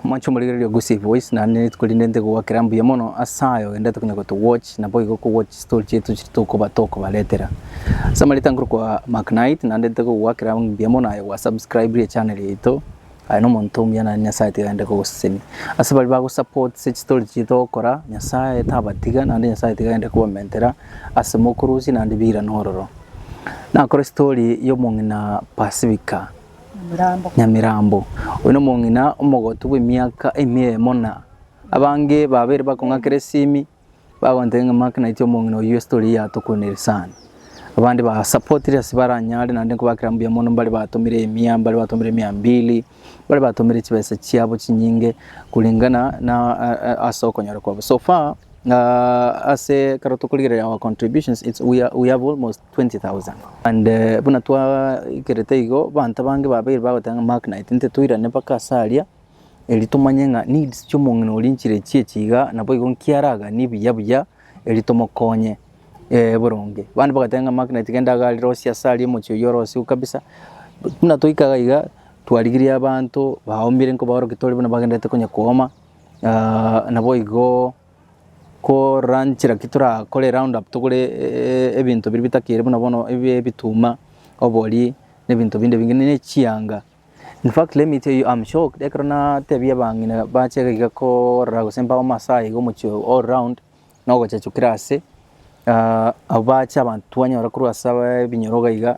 Mwanche omorigereria o Gusii Voice, naende ne rituko rinde nte kogwakera mbuya mono ase aye ogendete konya goto watch na boigo ko watch story chiaito chiri tokoba tokobaretera. Ase amarita nkorokwa Mark Knight naende nte kogwakera mbuya mono aye gwa subscribire echannel yaito, aye nomonto omuya naende Nyasaye tiga aende kogosesenia. Ase baria bago supportse chistory chiaito ogokora, Nyasaye tabatiga naende Nyasaye tiga aende kobamentera ase mokorusia naende bira na ororo. Nakore story ya omong'ina Pacifica. Nyamirambo, oyo nomong'ina omogotu bw'emiaka emeemo na abange babere bakong'akera esimi bagontebia ng'a Mark naitwe omong'ina oyio estory yatokoneire sana. Abande ba supportire ase baranyare naende nkobakera mbuya mono mbare batomire emia, mbare batomire mia mbili, mbare batomire chibesa chiabo chinyinge kulingana na ase okonyora kwabo. So far ase ekero tokorigereria our contributions it's we are we have almost 20,000. And buna twaikerete igo, banto bange babeire bagoteba ng'a Mark Knight, inche toirane mpaka ase aria, erio tomanye ng'a needs chi'omong'ina oria nchire chie chiga, naboigo nkiaraganie buya buya erio tomokonye eh boronge. Abande bagateba ng'a Mark Knight genda iga arire osiyo ase aria omochie oyio ore osiyo kabisa, buna toikaga iga, twarigirie abanto baomire nkobaorokia tore buna bagenderete konya kooma, naboigo. Koranch naki torakore round up togore ebinto biria bitakiri buna bono ebie ebituma, obori na ebinto binde binge ne chianga. In fact let me tell you am shocked ekero natebia abang'ina bachaka iga korora gose mpaba masaai iga omochie oo all round na ogochachukera ase abwo bacha abanto twanyora korwa ase abaaa ebinyoro iga iga.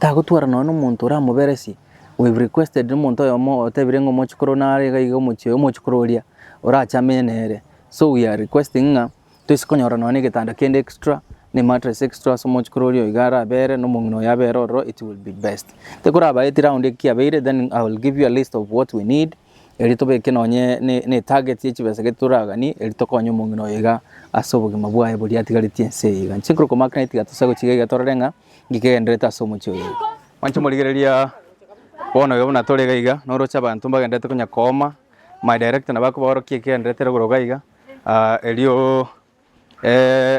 Tagotwarana nonya nomonto oramoberesie, we have requested nomonto oyomo otebire ng'a omochikoro oyo nare iga iga omochie oyo, omochikoro oria orache amenye nere. So we are requesting ng'a toise konyora nonya na egetanda kende extra, na emattress extra ase omochikoro oria iga arabere, na omong'ina oyo abere ororo it will be best. Tekoraba eti round eki kiabeire then I will give you a list of what we need, erio tobeke nonye ne ne etarget ya chibesa gete toraganie, erio tokonye omong'ina oyo iga ase obogima bwaye boria atigaretie ense eye iga. Inche nkorokwo Mark naye tiga tosa gochiga iga torore ng'a ngigegenderete ase omochie oyo. Mwanche morigereria bono iga buna tore iga iga, noroche abanto mbagenderete konya kooma, my director nabo akobaorora ki ekegenderete igoro iga iga, erio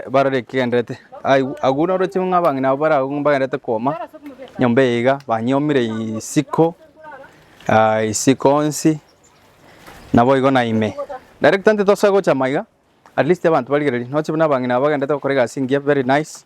barore ekegenderete. Aye- agwo noroche ng'a abang'ina abo bare agwo mbagenderete kooma nyomba eye iga, banyiomire isiko isiko onsi, naboigo na ime. Director intitosa gocha maiga, at least abanto barigereria, noroche buna abang'ina aba bagenderete gokora egasi engiya very nice,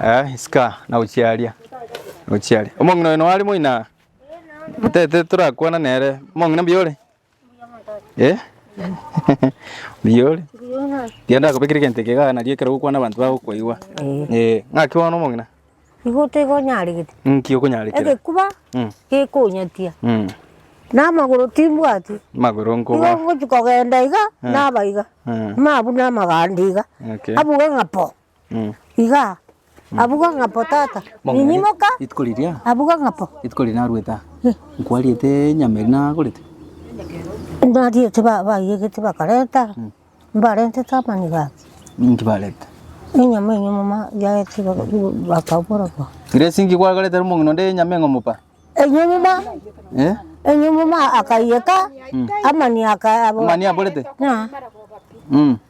Eh, isika nagochia aria, nagochia aria. Omong'ina oyo noare moina? Tete torakwana nere. Omong'ina mbuya ore? Eh? Mbuya ore? Tiga ndakobekere egento eke igaa nario ekero ogokwana abanto bagokoigwa. Eh, ng'aki bono omong'ina? Nigo otekonyaregete. Nki okonyarekera? Egekuba Mm. gekonyatia. Mm. Na amagoro timbwati. Magoro Nigo nkoba. ngochia kogenda iga, naba iga. Mm. Mabuna amaganda iga. Okay. Abuga ng'a po. Iga, abwo ga ng'apo tata. Ninyimuka, Rituko riria, abwo ga ng'apo. rituko riria narwete aa, nkwariete enyama eria nagorete? Nariete ba- baiyegete bakarenta, mbarentete amaniga aya. Ninki barete? Enyama enyomo ma yaete iga igo bakabora ba. Ere esinki gwakorete ere omong'ina onde y'enyama eng'omo pa? Enyomo ma, Eh? enyomo ma akaiyeka, amani aka abo. Amani aborete? Ng'a. Mm.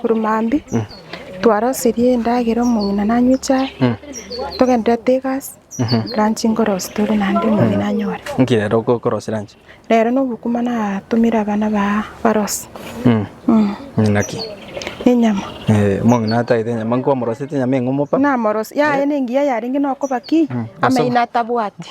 Korwa mambia twarosirie endagera omong'ina nanywe echae togendererete egasi lunch nkorosie tore naende omong'ina anyore. Nki rero okorosia lunch? Rero nobokima natumire abana baa barosie. Omong'ina ki? Enyama. Eh, omong'ina atagete enyama nkomorosete enyama eng'umopa? Namorosia yaye nengiya yarenge nokoba ki amaino atabwati.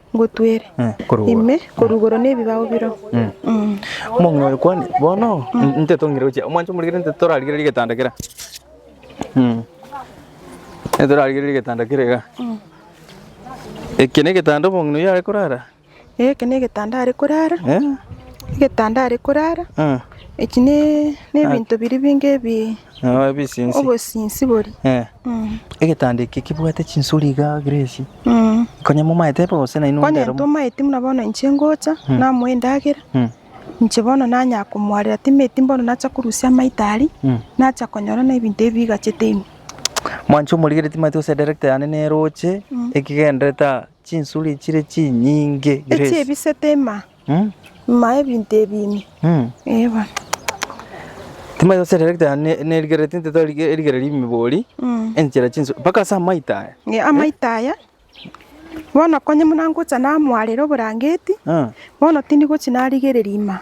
ngotwere ime korugoro nebibao biro. Omong'ina oye kwani, bono nte tong'ira gochia, omwancho omorikere nte torarigererie getanda kera, nte torarigererie getanda kera iga. Eke negetanda omong'ina oyio are korara? Eke negetanda are korara, egetanda are korara, echi ne, nebinto biria binge bi. Nabo ebisinsi. Obosinsi boria. Eh. Mm. Egetanda eke kibwate chinsuri iga Grace. Mm. Konya momaete ebe gose naino Konya ndero. ntomaeti muna bono inche ngocha Hmm. namoa endagera Mm. inche bono nanya komwarera timeti mbono nacha korusia amaita aria Mm. nacha konyora na ebinto ebi bigachete ime. Mwanche omorigere timati gose director yane neroche Mm. ekigenderete aa chinsuri chire chinyinge Echi Grace. ebisete ima Maya ebinto ebi ime. Timanya gose rigereria ritano ne rigereria tinteto rigereria rimibori enchera chinswe mpaka ase amaito aya. Amaito aya bono konye buna ngocha namwarera oborangeti bono tindi gochi narigereria ime.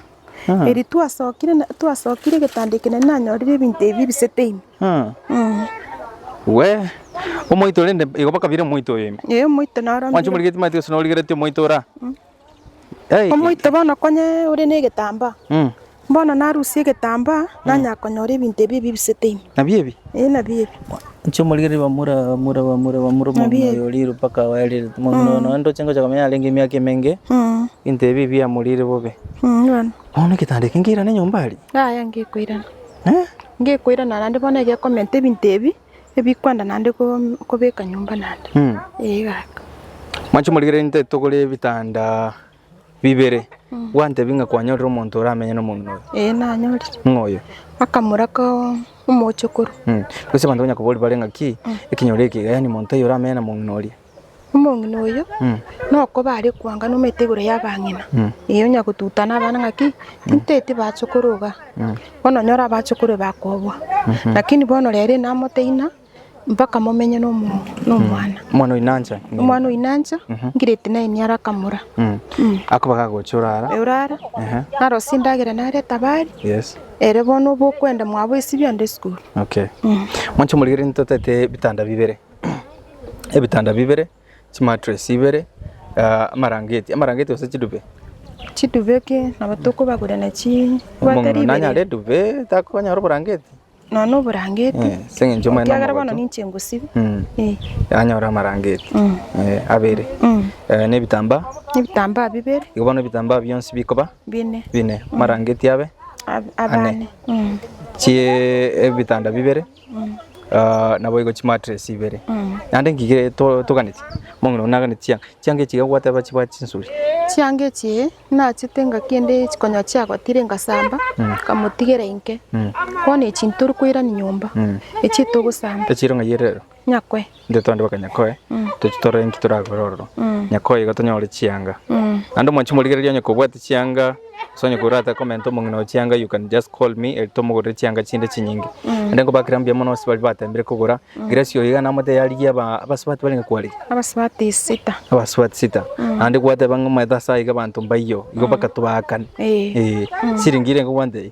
Eri twasokire twasokire egetanda eke nari nanyorire ebinto ebi ebisete ime. Wee omoito rende igo mpaka bire omoito oyo ime. Omoito naro mbire. Mwancha omorigetie maete gose norigeretie omoito ora. Omoite bono konya ore negetambaa, bono narusie egetambaa nanya konyora ebinto ebi ebibisete ime. Nabio ebi? Ee, nabio ebi. Inche omorigereria bamura bamura bamura bamura omong'ina oyo oriire mpaka abae riria omong'ina oyo nonya ndoche ngocha komenya arenge emiaka emenge ebinto ebi biamoriire bobe. Bono egetanda eke nkeirane nyomba aria? Yaya ngekoirana. Ngekoirana naende bono egekomenta ebinto ebi ebikwanda naende kom- kobeka nyomba naende. Mm. Ee kaka. Mwanche morigererie nte togore ebitanda bibere gwantebi ng'a kwanyorire omonto oramenye nomomino oyo Ee nanyorire. ng'a oyo Akamura ko omochokoro. Mm. Gose abanto banya koboria bare ng'aki ekinyoro eke iga yaani monto oyo oramenye na momino oria Omong'ina oyo nokoba are koangana omete igoro y'abang'ina, ee, onya gotutana abana ng'a ki, tinteti bachokoro iga, bono onyore abachokoro ebe bakobua. Lakini bono rero inamote ng'a mpaka momenye na omo- na omwana. Omwana oyo nanche. Omwana oyo nanche, ngireti naye niaro akamura. Akoba gagocha orara. Orara, Ehe. narosie endagera narete abare, Yes. ere bono obokwenda mwabo esibia onde esukuru. Okay. Mwanche omorigereri ntotaete ebitanda bibere. ebitanda bibere, chimatress ibere, amarangeti, amarangeti gose chiduve. Chiduve ki nabo tokobagure na chi bwate Omong'ina nanyare riberia. eduve takonyara oborangeti. Nonya oborangeti. Eh, ase eng'encho omanyete Ekiagera bono namogote. ninche ngosibia. Mm. Eh. Anyore amarangeti. Mm. Eh, abere. Mm. Eh, na ebitambaa. Ebitambaa bibere, Igo bono ebitambaa bionsi bikoba bine, bine. Amarangeti abe, ab- abane. Mm. chie ebitanda bibere. Naboigo chimatress ibere naende ngige toganeti omong'ina one naganeti chianga, chianga echi iga gwateba chibare chinsuri. Chianga echi nachete nga kende chikonyaa chiagotire ngasamba nkamotigera inke bono echi ntoria koirania nyomba echi etogosamba. Echiro ng'ai ere rero? Nyakwe. Intwe twande baka Nyakoe, toche torore inki torakore ororo. Nyakoe igo tonyore chianga. Naende omwanchi morigereria onye kobwate chianga, gose onye korate komenta omong'ina oye chianga, you can just call me eri tomogorere chianga chinde chinyinge. Naende nkobakera mbuya mono abase baria batembire kogora, Grace oyo iga namate yarigia aba, abase bati barenge kwarigia? Abasubati sita. Abasubati sita. Naende gwateba ng'a omanyete ase aiga abanto mbaiyo, igo bakatobaakani. Ee. Ee. Siringi ire iga ogwantebi?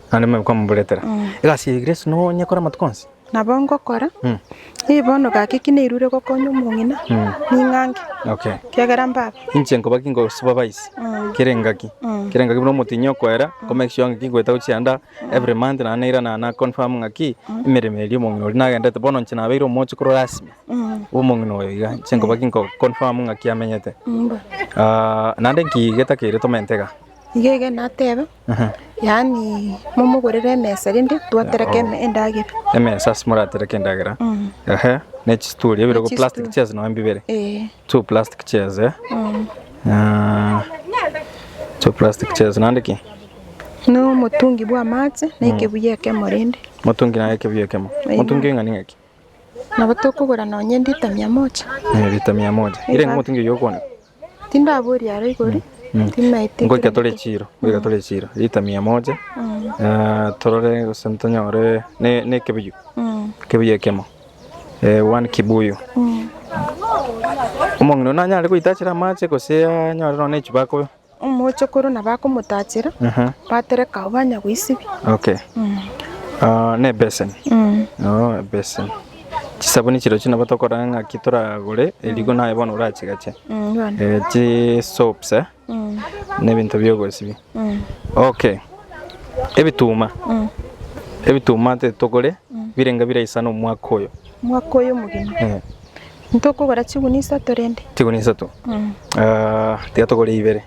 Naende mebe komoburetera. Egasi ya Yeso nonyekore amatuko onsi. Nabo ngokora, Mm. Ee, bono gaki ki nairure gokonya omong'ina, ning'ange, Okay. kiagera mbaba. Inche nkoba ki nko supervise Mm. kera engaki Mm. kera engaki buna omotinyi okoera ko make sure ng'aki ngoeta gochia anda every month na nairana na confirm ng'aki emeremo eria omong'ina oria nagendete bono inche nabeire omochi korwa rasmi Mm. omong'ina oyo iga inche nkoba ki nko confirm ng'aki amenyete Mbo. Ah, naende nki getakeire tomente iga Iga iga nateba, Yaani momogorere emesa rende twatereke em- endagera emesa ase moratereke endagera ehe ne chisituri ebere go plastic Chisituri. chairs nonya mbibere Eh, two plastic chairs eh mm. Ah, two plastic chairs nande ki na omotungi bwa amache na ekebuya ekemo rende motungi naye ekebuya ekemo Aye. motungi eng'ani ng'aki nabo tokogora nonya lita mia moja Eh, lita mia moja ire Eba. ng'omotungi oyo okwane Tindabori aro igori, timaeti Ngoika tore ntoreteke. chiro, ngoika tore chiro, lita mia moja, eh, torore gose ntonyore ne- nekebuyu, ekebuyu ekemo, eh, one kibuyu. Omong'ina oyio nanyare goitachera amache gose anyore nonya na echupa akobe? Omochokoro nabo akomotachera, Ehe, batereka abwo banya goisibia. okay. Ah, na ebeseni, oh, ebeseni. Chisabuni chirochio nabo tokorora ng'aki toragore eriko naye bono orachigache eh, chisoaps eh, na ebinto bi'ogosibia okay ebituma ebituma titogore birenge biraisana omwaka oyo Mwaka oyo omogima. Eh, Ntokogora chiguni isato rende. chiguni isato Ah, tiga togore ibere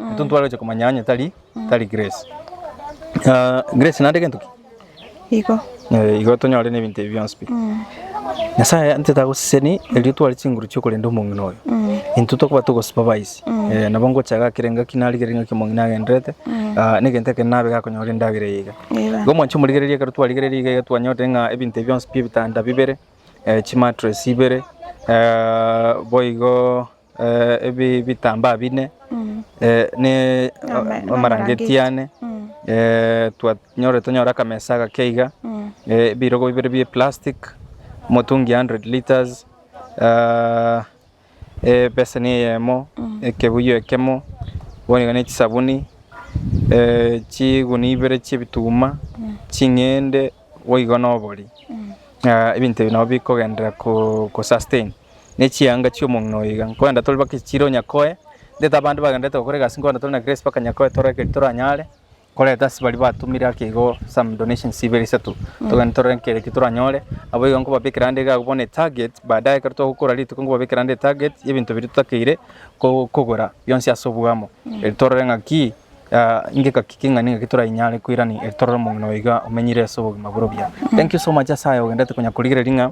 Intwe ntware gochia komanya onye tari tari Grace. Ah, Grace naende gento ki? Igo. Eh, igo tonyore nebinto ebi bionsi pi. Nyasaye ntete agoseseni erio tware chinguru chiokorenda omong'ina oyo. Intwe tokoba togosupervise. Eh, nabo ngocha gakera engaki narigere engaki omong'ina agenderete. Ah, negento ekende nabe gakonyora endagera eye iga. Eba. Igo mwancha omorigereria ekero twarigereria iga iga twanyorire ng'a ebinto ebi bionsi pi ebitanda bibere, eh, chimattress ibere, eh, boigo. ebi bitambaa bine ne amarangeti ane twanyorire tonyore akamesa agake iga, ebirogo bibere bie plastic, omotungi ya hundred litres, ebeseni eyemo, ekebuyu ekemo, bono iga ne chisabuni, chigunia ibere chie ebituma, ching'ende. boigo nobori, ng'a ebinto ebi nabio bikogenderera ko- ko sustain ne chianga chi'omong'ina oyo iga. Nkoenda tore mpaka echiro nyakoe, ntaete abande bagendererete gokora egasi nkoenda tore na grace mpaka nyakoe tore ekeri toranyare, koreta ase baria batumire ake igo some donations ibere isato, togende torore nkere ki toranyore, abwo igo nkobabekera ande iga abwo bono etarget, baadaye ekero togokora rituko nkobabekera ande etarget y'ebinto biria totakeire ko- kogora bionsi ase obwamo, eri torore ng'aki. ngekaki keng'ane ngaki torainyare koirani eri torore omong'ina oyo iga omenyire ase obogima bore obuya. Thank you so much ase aya ogenderete konya korigereria ng'a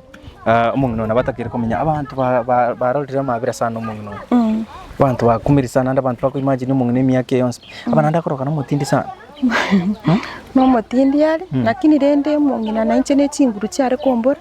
ah, omong'ina oyo nabo atakeire komenya. Abanto ba- ba- barorire amabera sana omong'ina oyo. Abanto bakumeri sana naende abanto bako imagine omong'ina emiaka eye yonsi. Abana naende akoroka nomotindi sana. nomotindi are lakini rende omong'ina nainche ne chinguru chiare kombora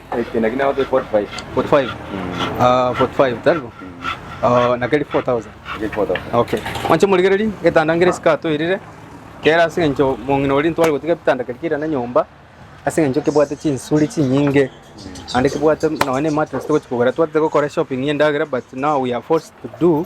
Mwanche morigererie, egetanda nkere esike atoirire, kere ase eng'encho mong'ina oria ntware gotiga ebitanda keri kere na nyomba, ase eng'encho kebwate chinsuri chinyinge, naende kebwate nonya na emattress togochi kogora, twatete gokora eshopping y'endagera but now we are forced to do.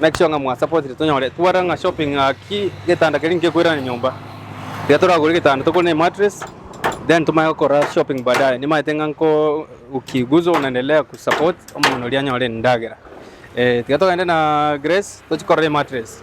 Make sure ng'a mwa supportire tonyore twara ng'a shopping ng'aki getanda keria ngekoirane nyomba. Tiga toragore getanda togore ne mattress then tomanye gokora shopping baadaye. Nimaete ng'a nko ukiguza unaendelea ku support omonto oria anyore endagera. Eh, tiga togende na Grace tochi korora emattress.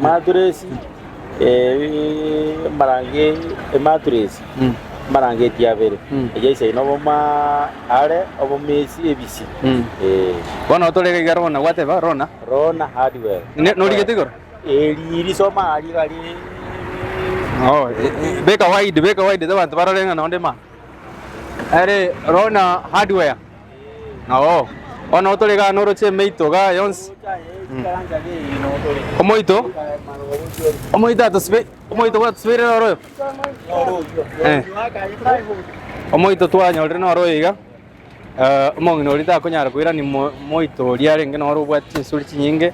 Maturesi, amarangi, ematuresi, amarangeti abere, eyio ase aino oboma are, obomesi, ebisi, ee. Bono otore iga iga rona, gwateba rona. Rona, hardware. Ne- norigete igoro? Eri risoma aria iga riri Oh, e- e- beka wide, beka wide, abanto barore ng'a nonde ma. Ere rona hardware. Ao, bono otoregane oroche emeitoga aa yonsi. Omoito, omoito atosibe, omoito bwatosibeire noro oyo. Eh. Omoito twanyorire noro oyo iga. Eh, omong'ina oria takonyara koirani mo- moito oria arenge noro obwate chinsuri chinyinge.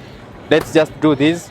Let's just do this.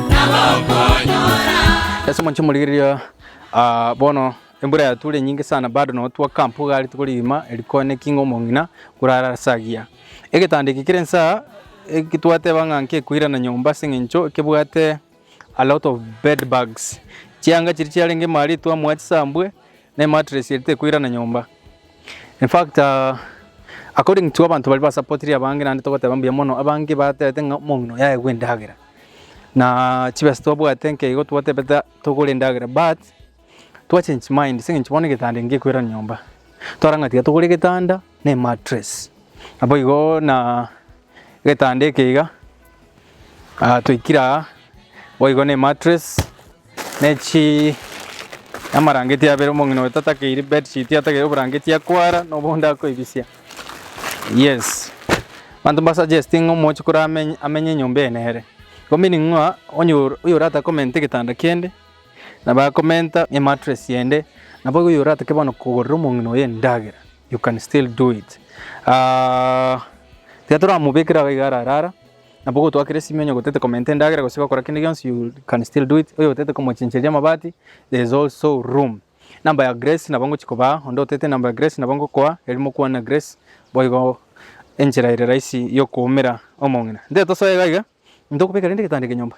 Ase omochie morigererio, ah, bono embura yatwire enyinge sana bado nabo twa camp iga are tokori rigima eri kone ki ng'a omong'ina korara ase agiya. Egetanda eke kere inse aa, eki twateba ng'a nkekoirana nyomba ase eng'encho kebwate a lot of bed bugs. Chianga chiria chiarenge ime aria etwamoa chisambwe, Ne mattress eri tekoirana nyomba. In fact according to abanto baria ba supportire abange naende togoteba mbuya mono abange batebete ng'a omong'ina oyo aegwe endagera na chibesa twabwate nka igo twatebete togore endagera but twa change mind ase eng'encho bono egetanda ngekoirana nyomba twara ng'a tiga togore egetanda ne mattress naboigo na egetanda eke iga toikire aa boigo ne mattress. Ne chi namarangeti abere, omong'ina oye tatakeiri bedsheet atakeire oborangeti akwara na obonde akoibisia. Yes. Abanto mba suggest ng'a omochi kore amenye amenye enyomba eye nere. Ko meaning ng'a onye oyo orata komenta egetanda kende na bakomenta emattress ende nabo oyo oratake bono kogorera omong'ina oye endagera you can still do it. Tiga toramobekera iga ararara. Nabo gotwakire simi onye gotete komenta endagera gose gokora kende gionsi you can still do it, oyo otete komochincheria amabati there is also room. Number ya Grace nabo ngochi kobaa, onde otete number ya Grace nabo ngokoa erio mokwane na Grace boigo enchera ere rahisi yokoumera omong'ina. Nte tosoe iga iga, intokobeka rende egetanda eke nyomba.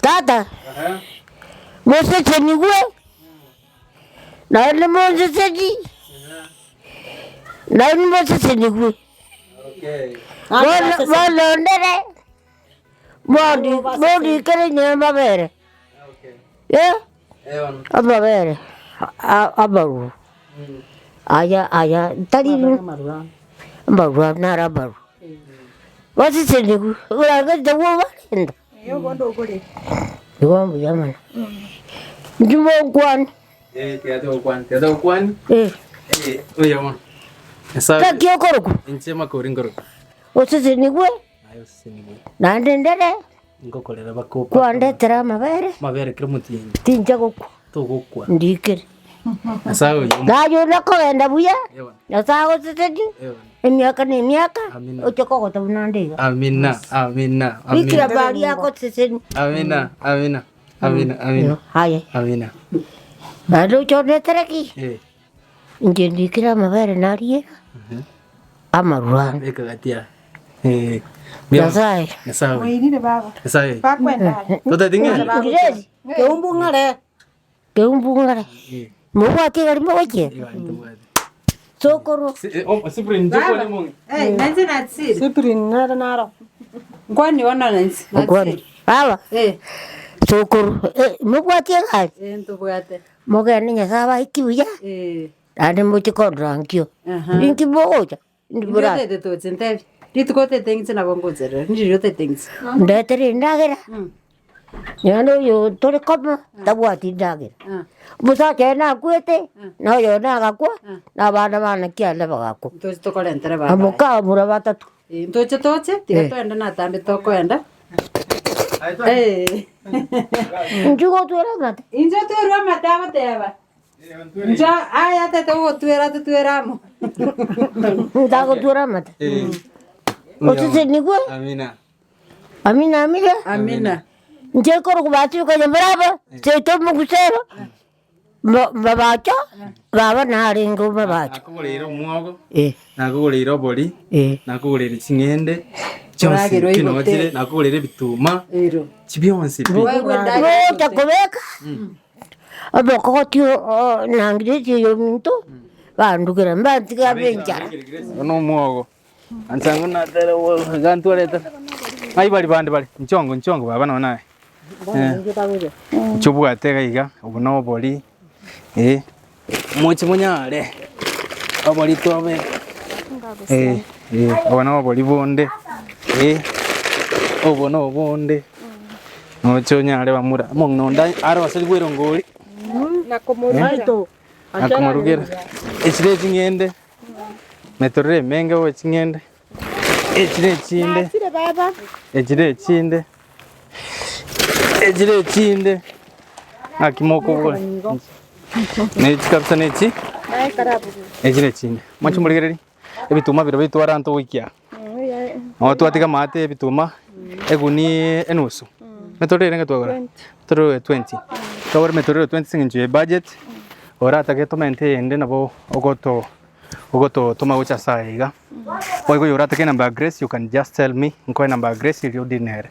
Tata, mosesenigwe, naye nimonseseni, naye nimosesenigwe, bono bono ndere mondi mondikere nyamabere e amabere a- amarwa aya aya tari amarwa naro amarwa, basesenigwe, buna gento bwobarenta. Nigo mbuya mono. Inki mokwane? Eh, Gaki okorokwa? Osesenigwe naende ndere kwandetera amabere, tincha gokwa. togokwa. Ndikire. Nyasae agoe nyomba. Naye onde akogenda buya, Ewa. Nyasae agosesetie, Ewa. emiaka na emiaka, Amina. oche kogota buna onde iga. Amina, amina, Bikira amina. Maria agosesenie. Amina, amina, amina, amina, Aye. amina. Naende oche onetere ki? Eh. Inche ndikire amabere nariira amarwa. Nyasae. Rireri, keumbu ng'are. Keumbu ng'are. Mobwati egari mogochia? Sokoro. Okwana. Baba. Sokoro. Mobwati egari? Mogende Nyasae abaeti buya, Eh, naende moche korora nkio. Aha. Inki mogocha? Indi Inki bora, otete toche ntebi? Rituko otete ng'inche nabo ngocherere, ndiri otete ng'inche. ndetere endagera. Mm. Naende oyo tore komo tabwati endagera. Ah, Omosacha oye nakwete, na oyo nagakwa, na abana bana kianda bagakwa. ntoche tokorentere baba. Abo ka bura batato. Ntoche toche, tiga toende natambe tokoenda. Inche gotwera amate. Inche otwerwe amate agoteba. Inche aya tete ogotwera totwera amo. Ntagotwera amate. Osesenigwe. Amina. Amina amina. Amina. Inche korokobatibi konya moraba, seito mogusero. Mo- mobacha baba narenge omobacha Nakogoreire omwogo, Eh, nakogoreire obori, eh. nakogoreire ching'ende chionsi Oragere oigote. kinochire, nakogoreire ebituma Ero. chi bionsi pi. Gocha kobeka omokogoti o- o- nangireti oyominto bandugera mbantiga abe enchara. Oyo nomwogo. Ancha ng'o natere gantwarete. Ng'ai bari bande bare? Nchongo nchongo baba no naye. Eh. Chobwate gaiga obo no bori. Eh. Mochi monyare. Obori tobe. Eh. Eh. Obo no bori bonde. Eh. Obo no bonde. Mocho nyare bamura. Mong no ndai aro asiri bwero ngori. Nakomorugera. Akomorugera. Esire chingende. Metororo emenge owe ching'ende. Echire echinde. Nasire baba. Echire echinde. Echire echinde. Naki mokobora. Nechi kabisa nechi. Naye karabu. Echire echinde. Mwachi morigereri. Ebituma bire bitwara anto goikia. Nabo twatiga amaate y'ebituma egunia enusu, emeturero erenge twagora? Emeturero 20. Twagora emeturero 20 ase eng'encho ye budget, oratake torment eyende nabo ogoto ogototoma gocha ase aya iga. Boigo oyo oratake enamba ya Grace you can just tell me nkoe enamba ya Grace erio odinere.